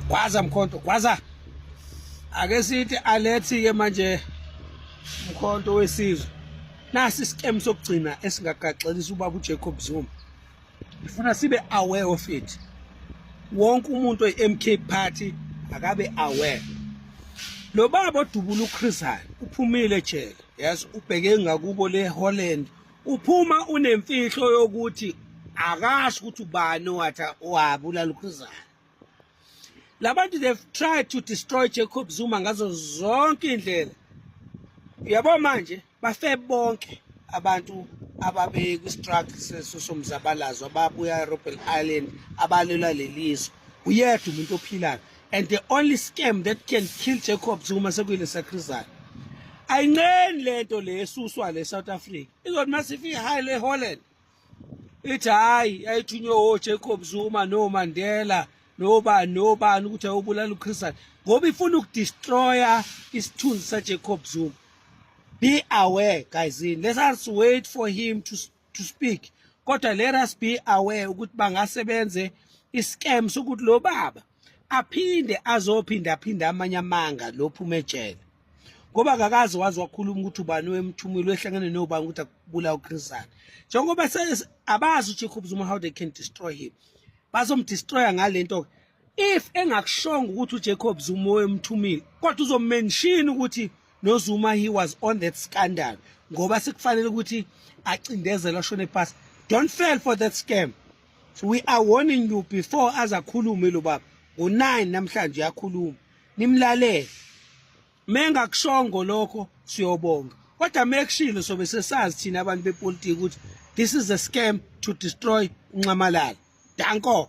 gwaza mkhonto gwaza ake sithi alethi ke manje mkhonto wesizwe nasi isikem sokugcina esingagaxelisa ubaba uJacob Zuma ngifuna sibe aware of it wonke umuntu oyi-MK party akabe aware lo baba odubula uChris uphumile jele yes ubheke ngakubo le Holland uphuma unemfihlo yokuthi akasho ukuthi ubani owatha owabulala ukhuzana labantu they've tried to destroy Jacob Zuma ngazo zonke indlela uyabo manje bafe bonke abantu ababe kwi-struggle sesomzabalazo ababuya eRobben Island abalwela lelizwe uyedwa umuntu ophilayo and the only scam that can kill Jacob Zuma sekuyile sakrizana ayinceni lento le esuswa le South Africa izothi masifika high le Holland ithi hayi yayithunywe o Jacob Zuma no Mandela noba nobani ukuthi ayobulala uChristian ngoba ifuna ukudestroya isithunzi saJacob Zuma be aware guys let's wait for him to to speak kodwa let us be aware ukuthi bangase benze iscam sokuthi lo baba aphinde azophinda aphinda amanye amanga lophume ejele ngoba akakazi wazi wakhuluma ukuthi ubani wemthumile wehlangene nobani ukuthi akubula uChrisana njengoba abazi uJacob Zuma how they can destroy him bazomdestroya ngalento if engakushonga ukuthi uJacob Zuma oyemthumile kodwa uzomention ukuthi noZuma he was on that scandal ngoba sikufanele ukuthi acindezela shone pass don't fail for that scam so we are warning you before azakhulume lo baba ngo9 namhlanje yakhuluma nimlalele mengakushongo lokho siyobonga kodwa mekushilo sobe sesazi thina abantu bepolitiki ukuthi this is a scam to destroy unxamalala danko